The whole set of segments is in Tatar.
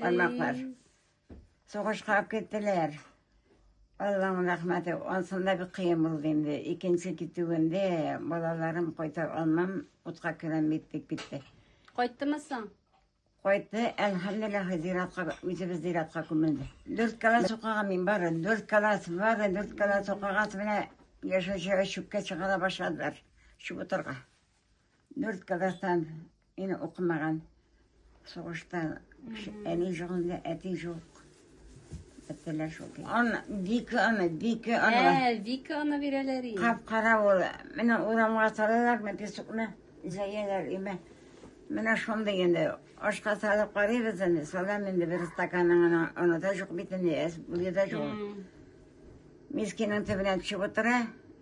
Балаклар. Сугышка киттеләр. Алланың рәхмәте, ансында бик кыен булды инде. Икенче китүендә балаларым кайта алмам, утка керәм бит дип китте. Кайттымы соң? Кайтты, әлхәмдулилла, зиратка, үзебез зиратка күмелде. Дүрт кала сукага мин бары, дүрт калас бары, дүрт кала сукагасы белән яшәүчегә чүпкә чыгара башладылар. Чүп утырга. Дүрт класстан ин укымаган. Сугышта әни жоқ инде, әти жоқ. Беттеләр шул көй. Аны Вика аны, Вика аны. Ә, Вика аны бирәләр инде. Кап-кара ул. Менә урамга салалар, мен песокны җәяләр име. Менә шундый инде. Ашка салып карыйбыз инде. Салам инде бер стаканның аны, аны да жоқ бит инде, әз булды да жоқ. Мискинең төбенә төшеп утыра.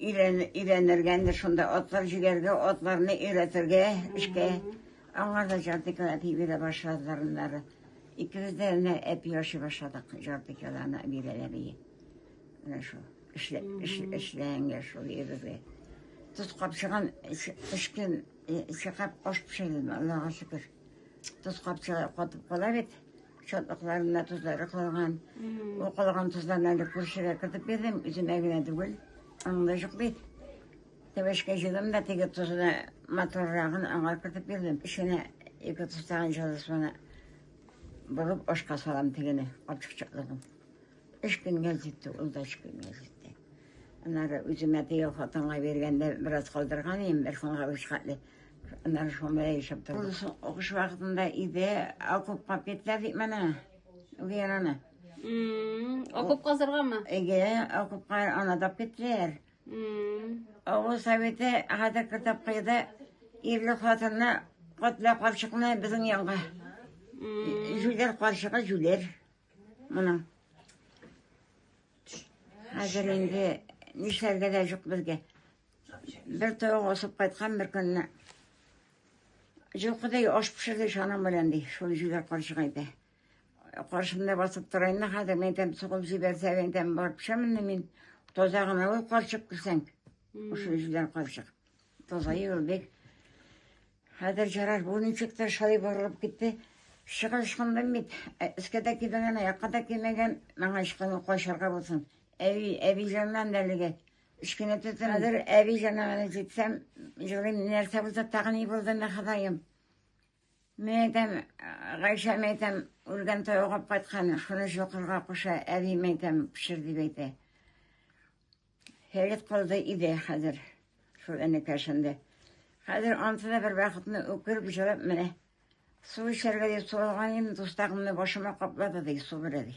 Өйрәнергә инде шунда атлар җигәргә, атларны өйрәтергә эшкә. Аңар да җар дикләп бирә башладылар аннары. Икебез дә менә әпи ашый башладык җар дикләне бирәләр бии. Менә шул. Эшлә, эшләнгә шул ебеге. Тоз капчыгын өч көн чыгап аш пешердем, Аллага шөкер. Тоз капчыгы катып кала бит. Чатлыкларында тозлары калган. Ул калган тозларны әле күршегә кертеп бирдем, үземә генә түгел. Аңда юк бит. Тәбәшкә җыйдым да теге тозны моторрагын аңа кертеп бирдем. Эченә ике тостаган җылысына борып ашка салам тегене, капчыкчыклыгын. Эш көнгә җитте, ул да эш көнгә җитте. Аннары үземә теге хатынга биргәндә бераз калдырган идем, бер фонга үч хәтле. Аннан шома яшәп тордык. Сугыш вакытында иде, окопка киттеләр бит менә. Гераны. Окоп казырганмы? Әйе, окопка анадап киттеләр. Авыл советы хәзер кертеп куйды. Ирле хатынны, котлы карчыкны безнең янга. Җүләр карчыгы җүләр. Моның. Хәзер инде нишләргә дә юк безгә. Бер тавык асып кайткан бер көнне. Җылкыдай аш пешерде шаның белән ди, шул җүләр карчык әйтә. Каршымда басып тора инде хәзер, мин әйтәм, сугып җибәрсә, мин әйтәм, барып пешәмен дә мин. Таза гына ул карчык күрсәң, ошо җүләр карчык. Таза ел бик. Хәзер җараш бу ничек тә шулай барылып китте. Чыгып ышкындым бит. Ә, Өскә дә кимәгән, аякка да кимәгән. Маңа ышкыну кайшарга булсын. Әби, әбиҗаннан да әлеге. Кечкенә төтен хәзер әби җанагына җитсәм, җылыйм, нәрсә булса тагы ни булды мә Ходаем. Мин әйтәм, Гайшә мин әйтәм, үлгән тау алып кайткан, шуны җокырга куша, әби мин әйтәм, пешер дип әйтә. Хәйләт калды иде хәзер, шул әнекәшендә. Хәзер анты да бер вакытны үкереп җылап менә. Су эчәргә дип су алган идем, дустагымны башыма каплады ди, су бирә ди.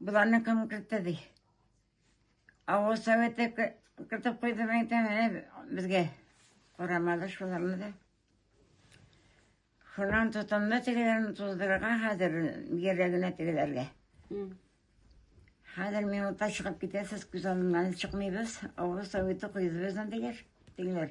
Боларны кем кертте ди? Авыл советы кертеп куйды мәйтәм, әне безгә. Карамады шуларны да. Шунан тотынды тегеләрне туздырырга хәзер йөрәгенә тегеләргә. Хәзер минутта чыгып китәсез, күз алдыннан чыкмыйбыз. Авыл советы куйды безне дигәр, тегеләр.